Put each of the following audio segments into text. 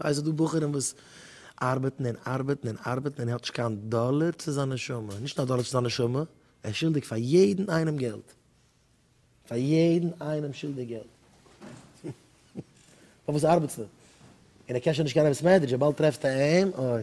ווייסט ס'דא בחורים וואס ארבעטן און ארבעטן און ארבעטן און ער האט נישט קיין דאלער צו זיין נשמה, נישט א דאלער צו זיין נשמה, ער איז שולדיג פאר יעדן איינעם געלט, פאר יעדן איינעם שולדיג געלט. פארוואס ארבעטסטו? און ער קען שוין נישט קיין אמת סמעדרידזש וויבאלד טרעפסטו אים, אוי.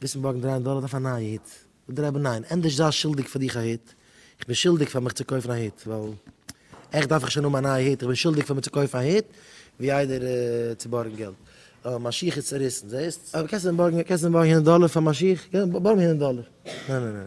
וויסן בארגן דרײַ הונדערט דאלער אויף א נייע היט? זאגט דער רבי ניין, ענדערש זיי שולדיג פאר דיך א היט, איך בין שולדיג פאר מיך צו קויפן א היט, ווייל עכט דארף איך שוין האבן א נייע היט, איך בין שולדיג פאר מיר צו קויפן א היט, ווי איידער צו בארגן געלט. א שיך איז צוריסן, זעסט? קענסט מיר בארגן הונדערט דאלער פאר מיין שיך? בארג מיר הונדערט דאלער. ניין ניין ניין.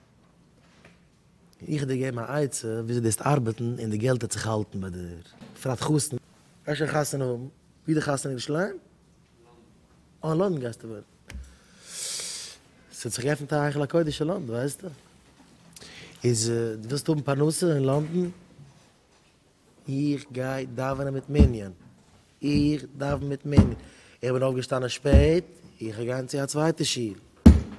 איך דיר געבן א עצה וויאזוי דארסט ארבעטן און די געלט העט זיך האלטן ביי דיר בפרט חתן. גייסט שוין חתונה האבן? ווי די חתונה אין ירושלים? לונדון. אה אין לונדון גייסטו ווערן. ס'האט זיך געעפנט א היכל הקודש אין לונדון ווייסטע. איז דו ווילסט האבן פרנסה אין לונדון? איך גיי דאווענען מיט מנין. איך דאווען מיט מנין. איך בין אויפגעשטאנען שפעט, איך גיין צו א צווייטע שול.